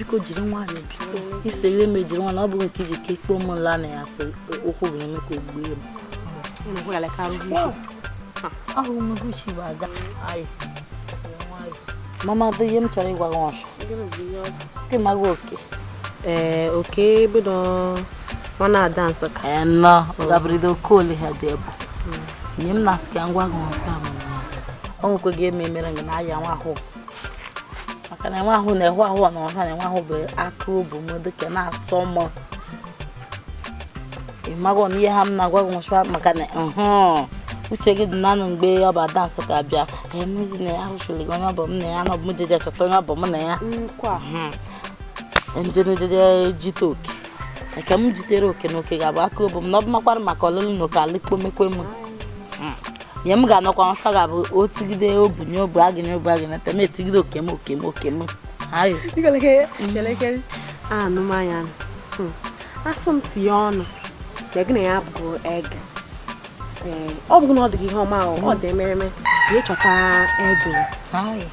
biko jiri nwayọ biko isi ihe mejiri nwa na ọ bụghị nke iji ka ikpe ụmụ nla na ya sị ụkwụ ga-eme ka ogbue m ahụ m guchi bụ aga mama dị ihe m chọrọ ịgwa gị ọsọ gị maghị oke ee oke bido nwa na Ada Nsụka nọ ọ gabụrịdo oke ole ha dị ebu ihe m na-asị ka m gwa gị nwoke ahụ o nwekweghị eme mere gị na ahịa nwa ahụ maka na nwa ahụ na-ehụ ahụ na ọha na nwa ahụ bụ aka obu m dịka na-asọ m ịmago na ihe ha m na-agwa gị nwụsịwa maka na uche gị dị nanụ mgbe ọ bụ Ada Nsụka bịa emezi na ya ahụchiri gị onye ọ bụ m na ya na ọ bụ m jeje chọta onye ọ bụ m na ya njenejeje jite oke nke m jitere oke na oke ga-abụ aka obu m na ọ bụ makwara maka ọlụlụ na oke alụkpomekwe m hmm. ihe m ga-anọkwa nfa ga-abụ otigide obu nye obu agị nye obu agị na tem etigide oke m oke m oke m ayo anụmanya hmm. asị m tinye ọnụ na gị na ya bụ ege ọ bụrụ na ọ dịghị ihe ọma ọ dị emereme ga-echọta ege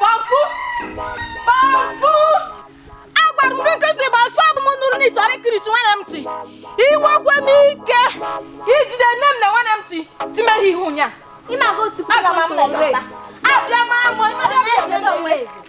Pọpụ! Pọpụ! Agwara m gị nke si bụ asọ bụ m nụrụ na ị chọrọ ikirisi nwanne m ntị. Inwekwe m ike ijide nne m na nwanne m ntị timere ihe ụnya. Ị na-aga otu Aga m amụ na abịa m amụ ịmara m ebe m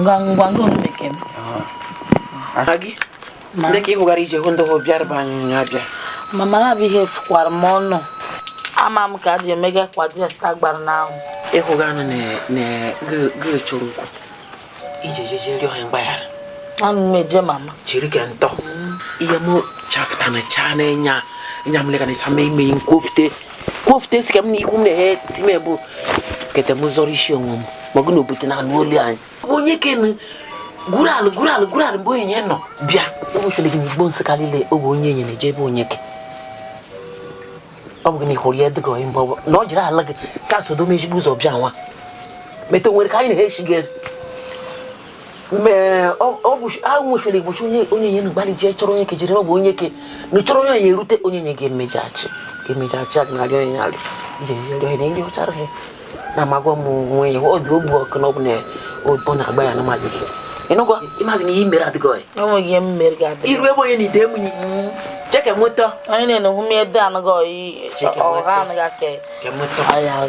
ngwa ngwa ngwa bekee m ndị ka ịhụgara ije hụ ndị hụ bịara be anyị nya bịa mama na abịghị efukwara m ọnụ ama m ka a ji emega kwa diasta gbara n'ahụ ịhụga anụ na-echụrụ nkwụ ije jeje rịọ ha mgbaghara anụ m eje mama chiri ka ntọ ihe m chafụta na chaa na-enye nya m lekana ịcha ma ime m kwofute kwofute esi ka m na ikwu m na-ehe ti m bụ kete m zọrọ isi onwe m ma gụ na obodo na anụ olu anyị onyeke nu gwuru alụ gwuru alụ gwuru alụ mgbe onyenye nọ bịa ụbọchị gị n'igbo nsụka niile ọ bụ onyenye na-eje ebe onyeke ọ bụ gị na ịhụrụ ya dịka onye mgbe na ọ jiri ala gị sa sodo mejigbu ụzọ bịa nwa meta onwere ka anyị na-echi gị agwụchara igbochi onye onyenye nu gbalị jee chọrọ onyeke jere na ọ bụ onyeke na-achọrọ onyenye erute onyenye ga-emejachi ga-emejachi a na-arịọ onye alụ ije rịọ ihe na-arịọchara ihe na amagwa m onwe ya ọ dị ogbu ọkụ na ọ bụ na ọ na-agba ya na mmadụ ihe ịnụgwa ịmaghị na ihe mere adịghị iru ebe onye na ide m cheke moto onye na-enoghu m ede anụghị ọyị ọha anụghị aka ya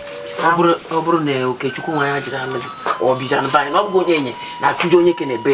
ọ bụrụ na okechukwu nwa ya jiri alụ gị ọ bịanụ be anyị na ọ bụghị onye enye na-achụju onye ke na-ebe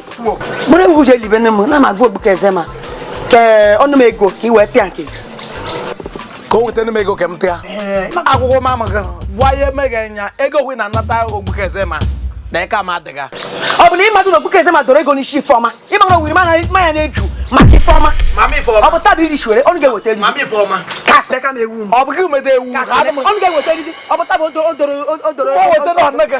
buru ewu je libe nne m na magụ ogbu ka eze ma ke ọnụ m ego ka i wee tịa nke ka o weta m ego ka m tịa akwụkwọ m amaghị gwa ya emeghị anya ego hụ na anata ogbu ka eze ma na ike ama adịga ọ bụ na ịmadụ na ogbu ka eze ma doro ego n'isi ifeọma ịma na owiri mana mmanya na-eju maka ifeọma ọ bụ tabi iri shiwere ọnụ ga-eweta eri ka peka m ewu m ọ bụ gị meta ewu ka ọnụ ga-eweta eri ọ bụ tabi o doro o doro o weta na ọnụ gị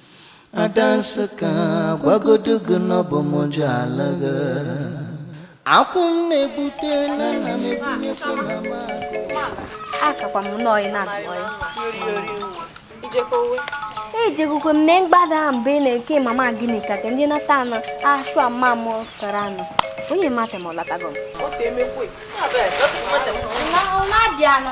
ada nsị ka gwagodu gị na ọ bụ m ji ala gị akwụ m na-egbute na nna m ebunyekwa na m akakwa m nnọọ ị na-agụọ ya ejegokwe m na mgbada mgbe ị na-eke mama gịnị ka ndị nata anụ ashụ ama m kara anụ onye mata ma ọ latago m ọ na-abịa anụ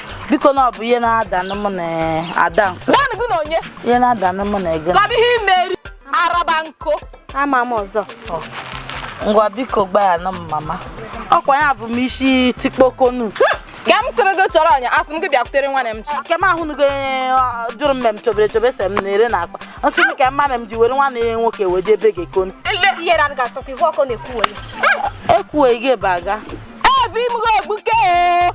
biko na ọ bụ ihe na-ada na mụ na ada nsị gwanụ gị na onye ihe na-ada na mụ na-ege ka ọ bụ ihe imeri araba nkụ ama m ọzọ ngwa biko gbaghara m mama ọkwa ya bụ m isi tikpokonu ka m sịrị gị chọrọ ọnya asị m gị bịakwutere nwanne m chi nke m ahụnugo onye ọ, jụrụ mme m chobere chobe se m na-ere na akpa nsị m ka mma m ji were nwanne ya nwoke wee jee be gị ekonu ihe na ga asọkwa ihu ọkụ na-ekwu onye ekwughị gị ebe aga ebe imụgo egbuke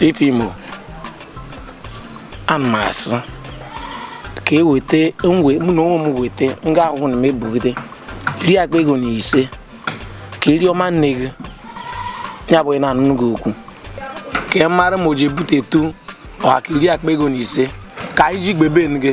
ifeọma ana m asị ka e wete mụ na onwe m wete nga ahụ na m ebugide iri akpa ego na ise ka e rie ọma nne gị ya bụ na anụnụ gị okwu ka ị mara ma o ji ebutetu ọ ha ka iri akpa ego na ise ka anyị ji gbebe gị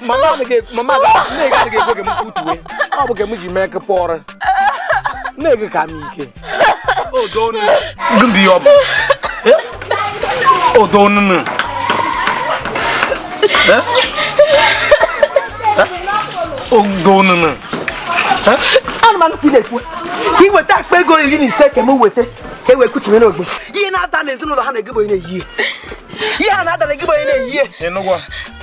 mama adịghị mama nne gị adịghị ekwe ka m kwutuwe ọ bụ ka m ji mee ka pụọrọ nne gị ka m ike gịnị ọ bụ odo onunu odo onunu anụmanụ ka ị na-ekwu ka ị weta akpa ego iri na ise ka m weta ka e wee kuchie n'ogbe ihe na-ada n'ezinụlọ ha na-egebe onye na-eyi ihe ihe a na-ada na-egebe onye na-eyi ihe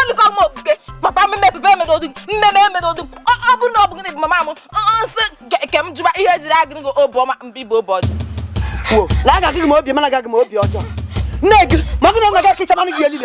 anụkọ m okpuke papa m mepebe emedodụ mmeme emedodụ ọ bụrụ na ọ bụ gịnị bụ mama m nsị ke m jụba ihe ejiri agịrị gị obi ọma ma ọ bụ obi ọjọọ na agaghị m obi mana agaghị m obi ọjọọ nne gị ma ọ bụrụ na ọ gaghị kịcha manụ gị elile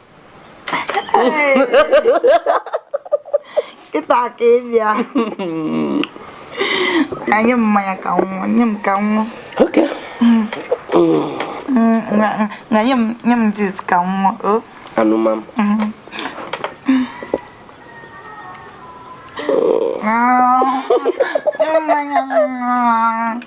kịta ka ị bịa ka nye m mmanya ka m ṅụọ nye m ka m ṅụọ na nye m nye m juice ka m ṅụọ aṅụma m mmanya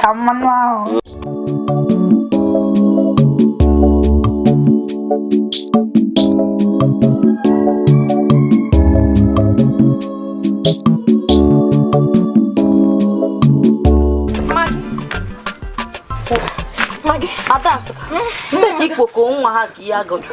ka mmanụ ahụ Ada, ndị ikpoko nwa ha ka ihe agụjụ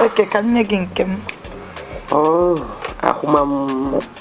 okay ka m nye gị nke m oh, aṅụma m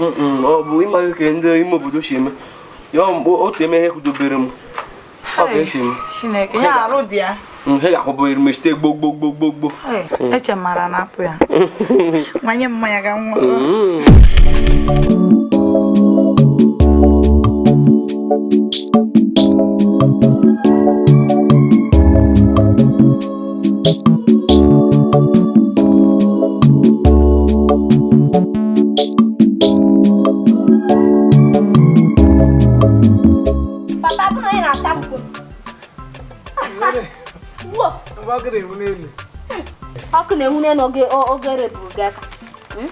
ọ bụ ị maghị ka ndị ime obodo si eme ya mgbe otu eme ihe kwudobere m ọ ga-esi m Chineke ya arụ dị ya ihe ga-akwụbụghị mechite gbogbogbogbogbogbo eche mara na apụ ya nwanye mmanya ga nwa Papa gị na onye na-ata mkpụ. Ọkụ na-enwu n'elu oge o- oge reburu gị aka. Hmm?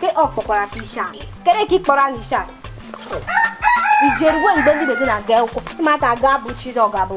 Ke ọ kpọkwara ka isi ala. Kere ka ị kpọrọ anyị isi ala. I jerue mgbe ndị ibe gị na-aga akwụkwọ. Ịmata aga abụ chi na ọ ga-abụ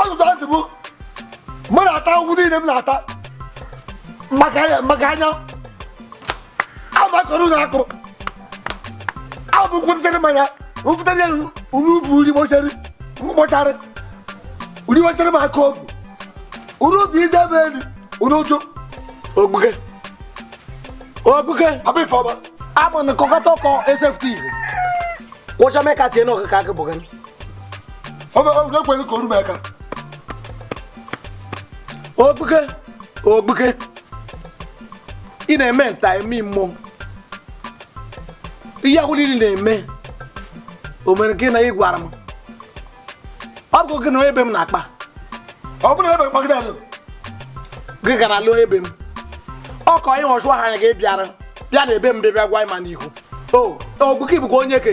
ọtụtụ asị bụ mụ na-ata ahụhụ niile m na-ata maka anya maka anya abụ akọrọ na akụrụ abụ nkwụ nsịrị mmanya nkwụta ya uru ubu uri gbọchara mkpọchara uri gbọchara m aka obu uru dị ize ebe elu uru ụjụ ogbuke ogbuke Papa Ifeọma abụ na kọkọta ọkọ esefti igbo kwụcha mee ka tie na ọkụkọ akị bụ gani ekweghị ka orube aka Ogbuke Ogbuke ị na-eme nta eme imo ihe ahụ niile na-eme o mere gịnị ị gwara m ọ bụ gị na onye be m na-akpa ọ bụrụ ebe mkpagide alụ gị gara lụọ ebe m ọ ka onye ọchụ ahụ anya gị bịara bịa na ebe m bịa bịa gwa m ya n'ihu o Ogbuke bụkwa onye ke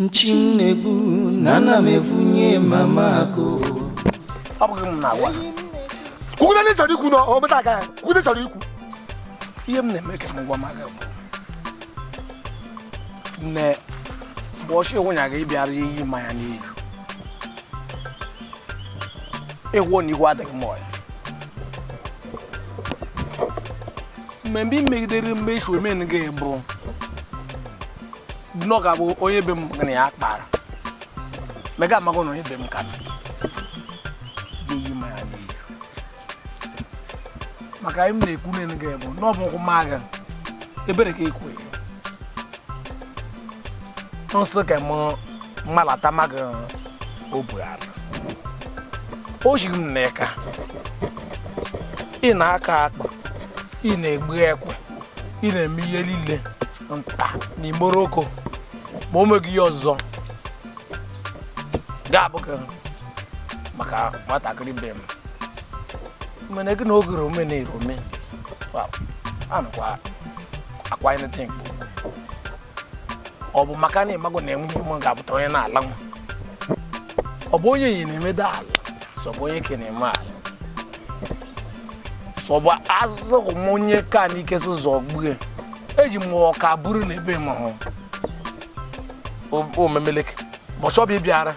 nchi m na-egbu na ana m evunye mama akụ ọ bụghị m na-agwa kwugide ndị chọrọ ikwu na o meta aka ya kwugide chọrọ ikwu ihe m na-eme ka m gwa maka bụ na mbọchị nwunye gị bịara ya iyi mmanya n'ihu ịgwọ na igwe adịghị m ọya mgbe i megidere mmechi omen gị bụ nọ ka bụ onye be m na ya kpara mega amago na onye be m ka m ga-eyi mmanya n'ihu maka anyị m na-ekwu nene gị bụ na ọ bụ ụkwụ m agha ebere ka ekwe nsị ka m mmalata maga o bu ala o jiri m n'aka ị na-aka akpa ị na-egbu ekwe ị na-eme ihe niile nta na imo roko ma o meghị ihe ọzọ ga-abụ ka maka nwatakịrị be m mene gị na oge rome na erome anụkwa akwa ị na-eti mkpu ọ bụ maka na ị mago na enweghị m ga-abụta onye na-ala nwa ọ bụ onye yi na-emeda ala sọ bụ onye ke na-eme ala sọ bụ azụzụ m onye ka na ike so zọgbue eji m ọka buru na ebe ma hụ omemeleke bọchị ọ bụ ị bịara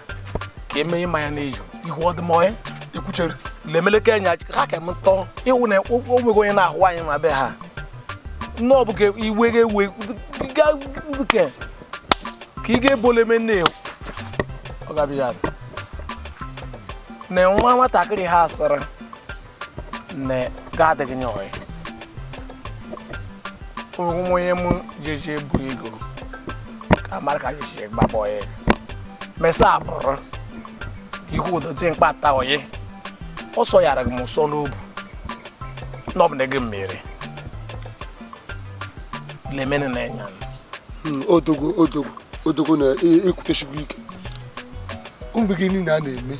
ka emenye mmanya na-eju ihu ọ dị m ọya ekwuchere lemeleke anya ha ka m tọọ ịwụ na o nweghị onye na-ahụ anyị ma be ha nne ọ bụ ka iwe ga-ewe ka ị ga-ebole me nne ọ ga-abịa na nwa nwatakịrị ha sịrị na ga-adịghị nye ọyị ụgwụ m onye m jeje bu ego ka mara ka jeje gbaba ọyị mesa abụrụ ihu ụdọtị mkpata ọyị ọ sọ yara m ụsọ n'obu na ọ bụ na gị mere lemene na-enya odogwu odogwu odogwu na ikwutechi gwụ ike mgbe gị niile a na-eme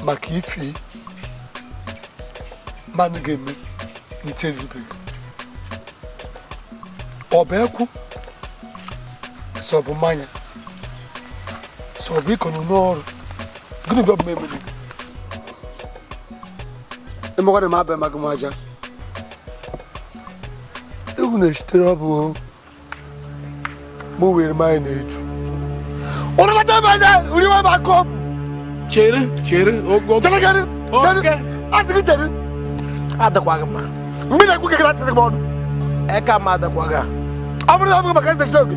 maka ife mmadụ ga-eme n'ite ezubeghị ọ bụ ekwu sọ bụ mmanya sọ bụ ịkọ n'ụlọ ọrụ gịnị bụ ọ bụ m emere ị makwa na m abịa magị m aja egwu na-esitere ọ bụ mụ were mmanya na-eju ụnụ lọta ebe anya uri nwa ma kọpụ chere chere ogo chere chere chere asị gị chere adịkwaghị mma mgbe na-ekwu ka gị na-atịrị gị ọnụ eka m adịkwaghị ọ bụrụ na ọ bụghị maka eze oge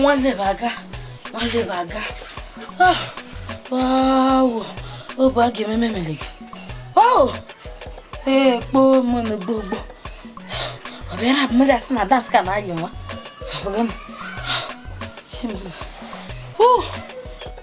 nwanne m aga nwanne m aga obu a ga-ememe mere gị ee kpoo m na gbogbo ọ bịara abụmja sị na dansị ka na-ayị nwa sọbụga m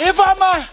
Ifeoma!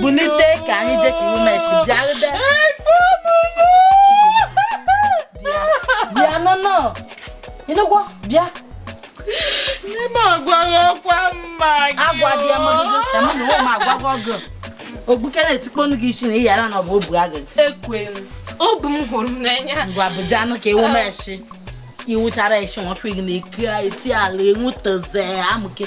bunite ka anyị jee ka iwu mesi bịarụde bịa nụnụ ịnụgwọ bịa n'ime agwaghị ọkwa mma gị agwa dị amaghị emu na ụmụ agwagwa ọgụ ogbukere etikponu gị isi na ị yara na ọ bụ obu agụ ekwere obu m hụrụ n'anya ngwa bụja anụ ka iwu mesi iwu chara esi nwoke gị na-eke eti ala enwuteze amụke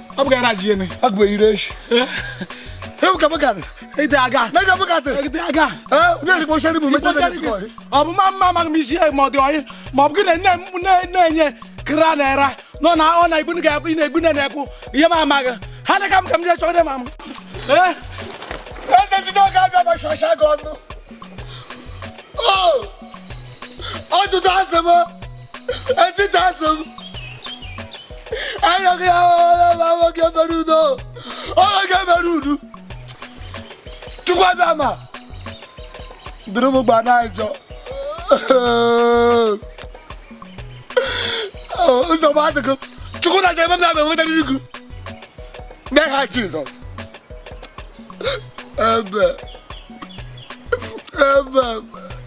ọ bụgara ajị ene agụ eyiri echi ewu ka bụkatị ite aga mega bụkatị ite aga onye dịkwa ochie bụ mecha na dịkwa ọyị ọ bụ ma mma amaghị m isi ya ma ọ dị ọyị ma ọ bụ gị na nne m na- na-enye kra naira nọ na ọ na igbunu ga-ekwu ị na-egbu nne na-ekwu ihe m amaghị ha na ka m ka m jee chọọ dị ma m ee eze jide oge abịa ma shọsha gị ọnụ ọdụdụ asị m Etiti asị m. Ayọghị ya ọhụrụ ma nwoke mere udo. Nwoke mere udo. Chukwu abịa ma. Duru m gba na-ajọ. Nsogbu adịghị. Chukwu na ga-eme m na enweta n'igu. N'aha Jizọs. Ebe. Ebe.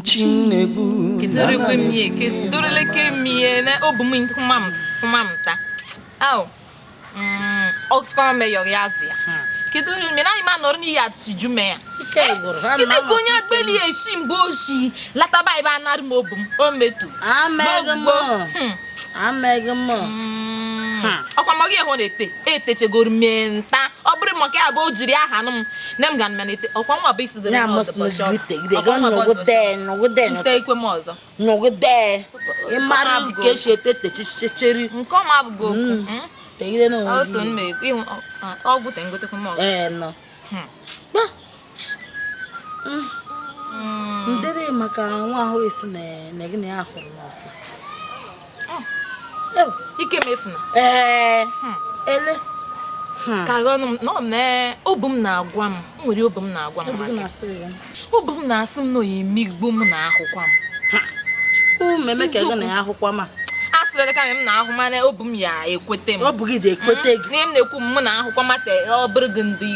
Chinegbu Kidorikwe mie, kidoreleke mie na obu m kuma m kuma m ta. Au. Mm, ọkụkọ me yọrọ ya zi ya. Kedu onye mere anyị ma nọrọ n'iyi atụchi ju mee ya. Kedu ka onye agbeli esi mgbe osi lataba ebe anarị m obu m o metu. Amaghị m. amaghị m hmm. hmm. ọkwa mọ gị ehụ na-ete etechegoro mee nta ọ bụrụ maka ya bụ o jiri aha nụ m na m ga na ete ọkwa nwa bụ isi dịrị nte ikwe m ọzọ nọgide ịmara ka esi ete techichicheri nke ọma abụghị okwu hmm. tegide n'onwe gị ọ gwụ te ngotekwa m ọzọ ndịrị maka nwa ahụ a sị na gị na ya hụrụ n'ọfụ ike mefuna ee ele ka ọnụ m na obu m na-agwa m nwere ihe obu m na-agwa m obi m na-asị m na oyi emigbo m na ahụkwa m ụmụ emeka ego na ya ahụkwa m a sịrị ka m na-ahụ mana obi m ya ekwete m ọ bụ gị ji ekwete gị ihe m na-ekwu m na ahụkwa mata ọ bụrụ gị ndị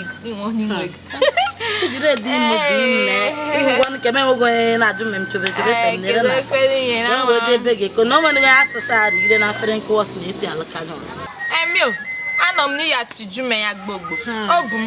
nwe gị jire dị ime dị ime ịhụgwa nke m enweghị onye na-ajụ m chebe chebe sị m nere na enwe oje ebe gị eko na o nwere asụsụ a rigide na afere nkụwa si na eti alaka n'ọrụ anọ m n'iyi achiju m ya gbogbo ọ bụ m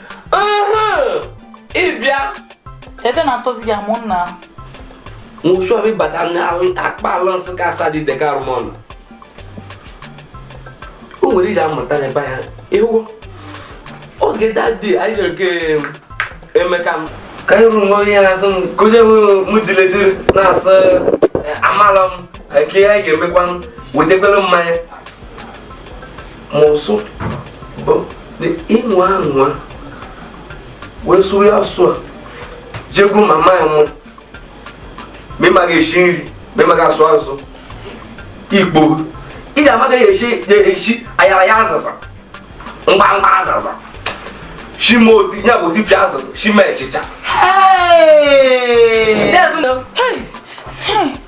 ịbịa ebe na-atọzi ya mụ nna nwụchụ ọbịa bata n'akpa ala nsị ka asa dị deka arụmọnụ o nwere iji amụta na ebe ya ịhụ oge dadi anyị jere nke emeka m ka anyị ruru onye na-asị m ka onye hụ m diledi na-asị amala m ka ihe anyị ga-emekwa wetekwere mmanya ma ọzọ bụ na ịnụ anwa wee sụrụ ya asụ a jego mama ya nwa ma ị maghị esi nri ma ị maghị asụ asụ igbo ị ga-amaghị esi ayaraya azịza mgbamgba azịza shima odi ya bụ dibịa azịza shima achịcha Hey! Hey! Hey!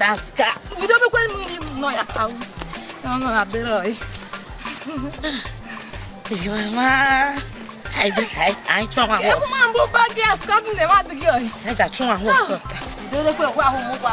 daska bido mekwa mmiri m nọ ya house ọnụ adịrọ mama anyị chụọ nwa ahụ ọsọ mgbe ụba gị aska dị na mmadụ gị ọyị anyị ga-achụ nwa ahụ ọsọ taa bido mekwa ekwe ahụ mụkwa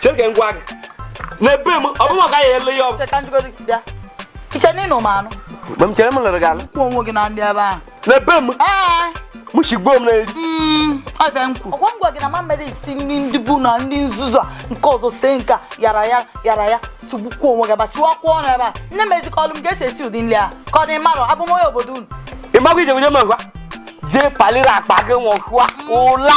chere ka m gwa gị na ebe m ọ bụrụ ka ya ele ya ọgụ cheta njikọta bịa iche na ịnụ m anụ mgbe m chere m lere gị ala kwụ onwe gị na ndị ebe ahụ na ebe m ee m shigbuo m n'eri mm, ọ sị m kwuru ọkwa m gwa gị na m amarọ esi nri ndị igbo na ndị nzuzu a nke ọzọ sie nke ayaraya sụgbukwa onwe gị aba sụwakwuo ọnụ ebe a nne m ezikọ ọlụ m ka esi esi ụdị nri a ka ọ dị mmadụ abụ m onye obodo unu ị magwa ije wunye m ngwa jee paliri akpa gị nwụọ hụa ụla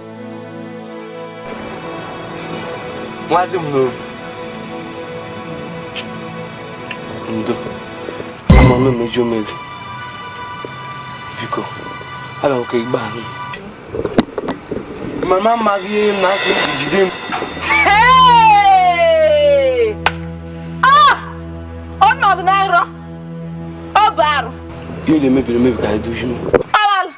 nwa dị m n'obi ndo amanụ mejọọ m ejọ biko aga m ka igbe ahụ mama amaghị ihe na aka iji jide m ọnọdụ na nrọ ọ bụ arụ ihe na-emebiri emebi ka anyị dozie m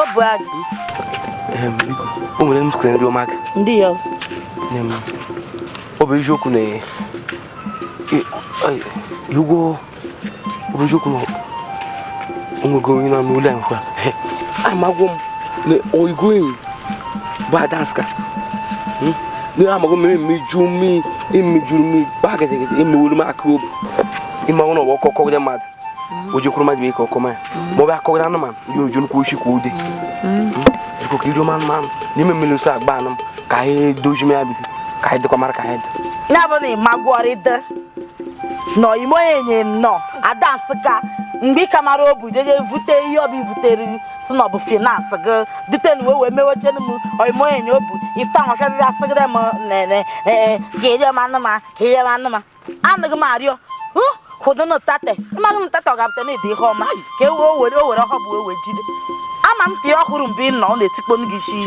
ọ bụ agụ o nwere nnukwu nri ọma gị ndị ya ọ bụ eziokwu na igwo ọ bụ eziokwu na onwego onye na-anụ ụlọ nkwa amagwo m na oyimo enye bụ adanska hmm? n'ihe amaghị mmiri mmiju mmiri imijuru mmiri gbaa gịdịgịdị imewuru m aka obi ị manụ na ọwa ọkọ kọgide mmadụ o jekwuru mmadụ ibe ọkọ manya ma ọ bụ akọgide anụmanụ ya eje n'ukwu oshi kwa ude biko ka iru anụmanụ n'ime mmiri nsọ agba anụ m ka anyị dozie m ya biko ka anyị dịkwa mara ka anyị dị ya bụ na ị magworịdị na oyimo enye na adanska mgbe ị ka mara obu jeje vute ihe obu ivutere si na ọ bụ finance gị dutenu wee wee mewechenu m oyimo enye obu fụta nwachadịrị asịgịrị m nene ee ka eri m anụ ma ka eri m anụ ma anaghị m arịọ hụdụnụ tate amaghị m tate ọ ga-apụta na ịdị ihe ọma ka e wee were o were ọhọ bụ ewe jide ama m ka ihe ọhụrụ mgbe ị nọ ọ na-etikponu gị isi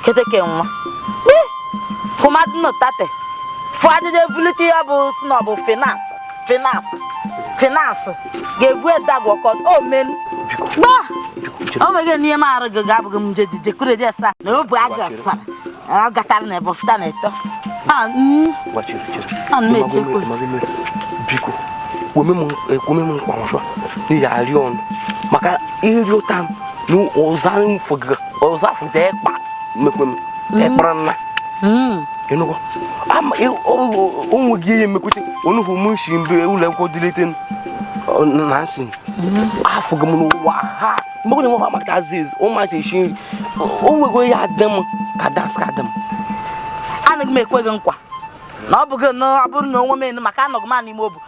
keteke nwa hụmadụnụ tate fụ adịdị ebulite ya bụ si na ọ bụ finance Finance, finance, ga-ebu edagwọ kọ omen. Gba! O nweghị n'ihe m arụ gị ga-abụghị m nje jije kụrụ eje sa na obu agụ asara. Ọ gatara na ebe ọfụta na eto. Ha, mm, ha m na-echekwa. biko kwome m ekwome m nkwa ọzọ n'ihi arịọ ọnụ maka ịrịọta m na ụzọ anyị fọgara ọzafụta ịkpa mmekwe m ịkpara nna ịnụkwa onwe gị ihe emekwute onugbu m si mbe ụlọ akwụkwọ dịlite na nsị afụghị m n'ụwa ha mgbe na nwa maka aziz ụmụaka esi nri o nweghị onye dị m ka adanska dị m anaghị m ekwe gị nkwa na ọ bụghị na ọ bụrụ na onwe m enu maka anọghị m n'ime obu